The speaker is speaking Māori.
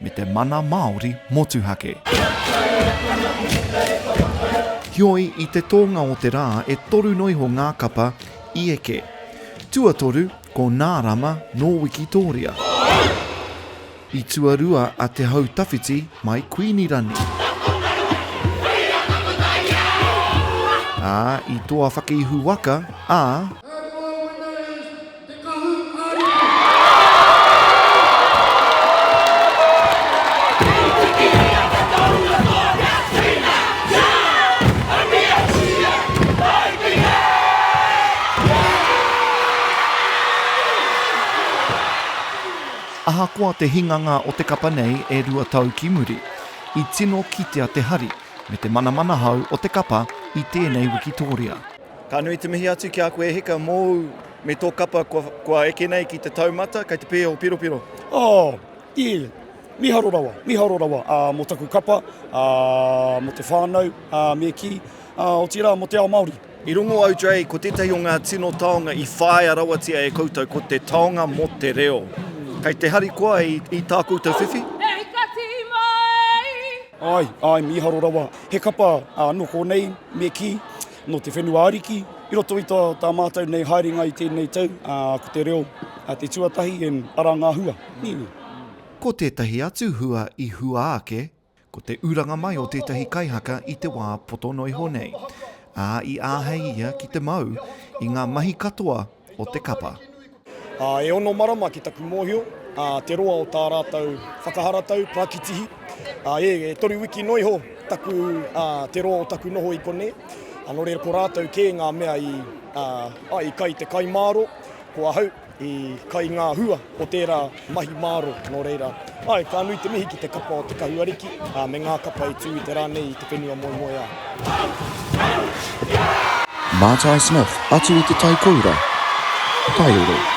me te mana Māori motuhake. Heoi, i te tōnga o te rā e toru noa iho ngā kapa i eke. Tuatoru, ko Nā Rama nō Wikitōria. I tuarua a Te Hau Tawhiti mai Kuīnirani. Ā, i toa whakaihu waka a. Te Kahu Ariki. Ahakoa te hinganga o te kapa nei e rua tau ki muri, i tino kitea te hari me te manamanahau o te kapa i tēnei wikitōria. Ka nui te mihi atu ki a koe e Hika mōu me tō kapa kua, kua eke nei ki te taumata kei te pēho piropiro. Oh, yeah. Miharo rawa, miharo rawa ā, mō taku kapa, ā, mō te whānau, ā, me kī, ā, otirā mō te ao Māori. I rongo au, Dre, ko tētahi o ngā tino taonga i whāia rawatia e koutou ko te taonga mō te reo. Kei te harikoa i, i tā koutou whiwhi? Ai, ai, miharo rawa. He kapa anō kōnei, me kī, nō te whenua ariki. I roto i tā, tā mātou nei haerenga i tēnei tau, ā, ko te reo te tuatahi and arā ngā hua. Nīnī. Ko tētahi atu hua i hua ake, ko te uranga mai o tētahi kaihaka i te wā poto noa iho nei, ā, i āhei ia ki te mau i ngā mahi katoa o te kapa. Ā, e ono marama ki taku mōhio, ā, te roa o tā rātou whakaharatau, pākitihi, ā, e, e toru wiki noa iho taku, ā, te roa o taku noho i konei, ā, nō reira ko rātou kē ngā mea i, ā, ā, i kai te kai māro, ko ahau i kai ngā hua o tērā. Mahi māro, nō reira, āe, ka nui te mihi ki te kapa o te kahuariki, ā, me ngā kapa e tū i te rā nei i te whenua moemoeā. Mātai Smith atu i te tai koura, tai roro.